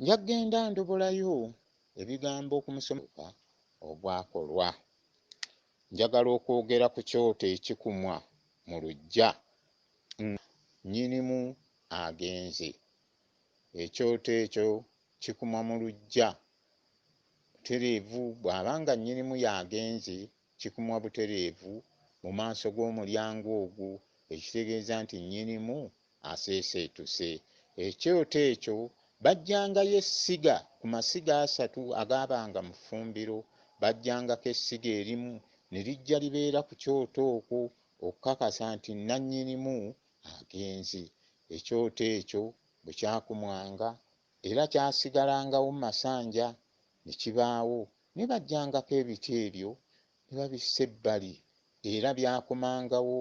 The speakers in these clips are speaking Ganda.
nja kugenda ndobolayo ebigambo ku musomoka ogwakolwa. Njagala okwogera ku kyoto ekikumwa mu luggya nga nnyinimu agenze. Ekyoto ekyo kikumwa mu luggya butereevu bw'aba nga nnyinimu y'agenze, kikumwa butereevu mu maaso g'omulyango ogwo ekitegeeza nti nnyinimu aseeseetuse. Ekyoto ekyo baggyangayo essiga ku masiga asatu agaabanga mu ffumbiro. Baggyangako essiga erimu ne lijja libeera ku kyoto okwo okukakasa nti nnannyinimu agenze. Ekyoto ekyo bwe kyakumwanga era kyasigalangawo mu masanja ne kibaawo naye baggyangako ebiti ebyo ne babissa ebbali era byakomangawo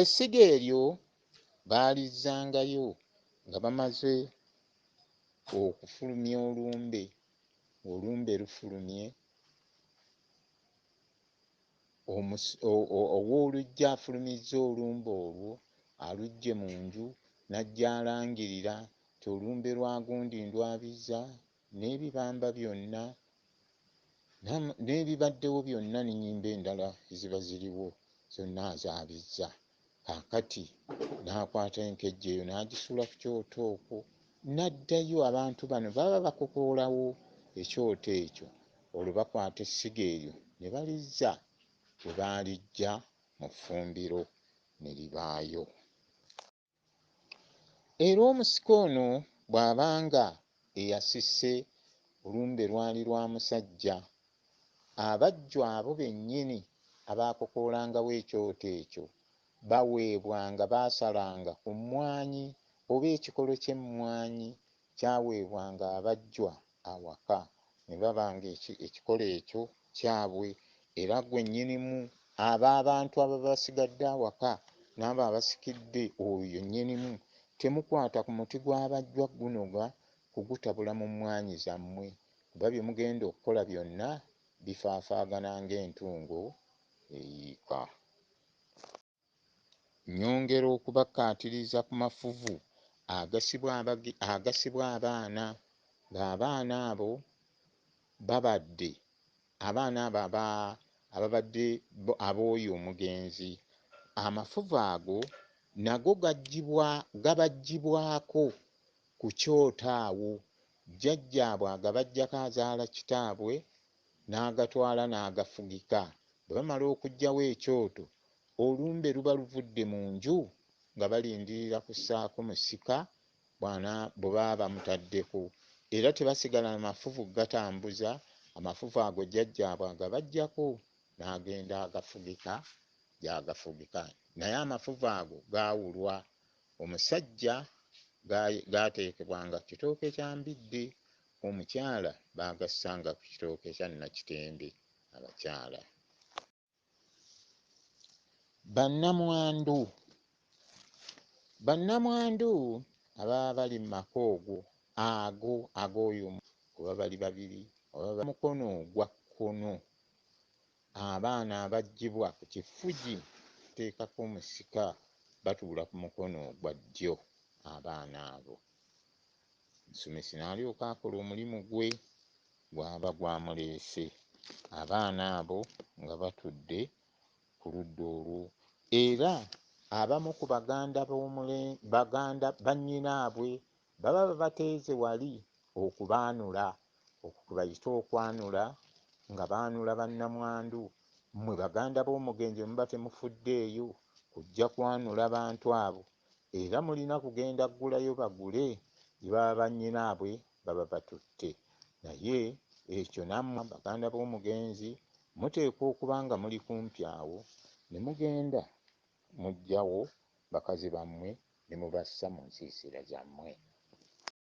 Essiga eryo baalizzangayo nga bamaze okufulumya olumbe, olumbe lufulumye owooluggya afulumizza olumbe olwo aluggye mu nju n'ajja alangirira nti olumbe lwa gundi ndwabizza n'ebibamba byonna n'ebibaddewo byonna n'ennyimba endala eziba ziriwo zonna azaabizza kaakati n'akwata enkejje eyo n'agisuula ku kyoto okwo n'addayo abantu bano baba bakokoolawo ekyoto ekyo olwo bakwata essiga eryo ne balizza we baaliggya mu ffumbiro ne libaayo Era omusika ono bw'aba nga eyasise olumbe lwali lwa musajja, abajjwa abo bennyini abaakokoolangawo ekyoto ekyo baweebwanga, baasalanga ku mmwanyi oba ekikolo ky'emmwanyi Kyaweebwanga abajjwa awaka, ne baba ng'eki, ekikolo ekyo kyabwe. Era ggwe Nnyinimu, abo abantu ababa basigadde awaka, n'abo abasikidde oyo, Nnyinimu, temukwata ku muti gw'abajjwa guno ga kugutabula mu mmwaanyi zammwe, kuba bye mugenda okukola byonna bifaafaagana ng'entungo eyiika. Nnyongera okubakkaatiriza ku mafuvu agasibwa abaana ng'abaana abo babadde abaana abo aba ababadde ab'oyo omugenzi. Amafuvu ago nago gaggyibwa gabaggyibwako ku kyoto awo, jjajjaabwe agabaggyako azaala kitaabwe n'agatwala n'agafugika. Bwe bamala okuggyawo ekyoto, olumbe luba luvudde mu nju nga balindirira kussaako musika bwe baba bamutaddeko era tebasigala na mafuvu kugatambuza, amafuvu ago jjajjaabwe agabaggyako n'agenda agafugika gy'agafugika naye amafuvu ago gaawulwa omusajja gaateekebwanga ku kitooke kya mbidde Omukyala baagassanga ku kitooke kya Nnakitembe. Abakyala. Bannamwandu. Bannamwandu ababa bali mu maka ogwo, ago, ag'oyo omu, oba bali babiri, oba ba, mukono ogwa kkono, abaana abaggyibwa ku kifugi okuteekako omusika batuula ku mukono ogwa ddyo, abaana abo. Omusomesi n'alyoka akola omulimu gwe gw'aba gwamuleese, abaana abo nga batudde ku ludda olwo, era abamu ku baganda b'omule, baganda bannyinaabwe baba babateeze wali okubaanula, okwo kwe bayita okwanula, nga baanula bannamwandu. Mmwe baganda b'omugenzi bwe muba temufuddeeyo kujja kwanula bantu abo, Era mulina kugenda gulayo bagule ba banyinabwe baba batutte naye ekyo namwe baganda bomugenzi muteekwa okuba nga muli kumpi awo ne mugenda mujjawo bakazi bamwe ne mubassa munsiisira zamwe.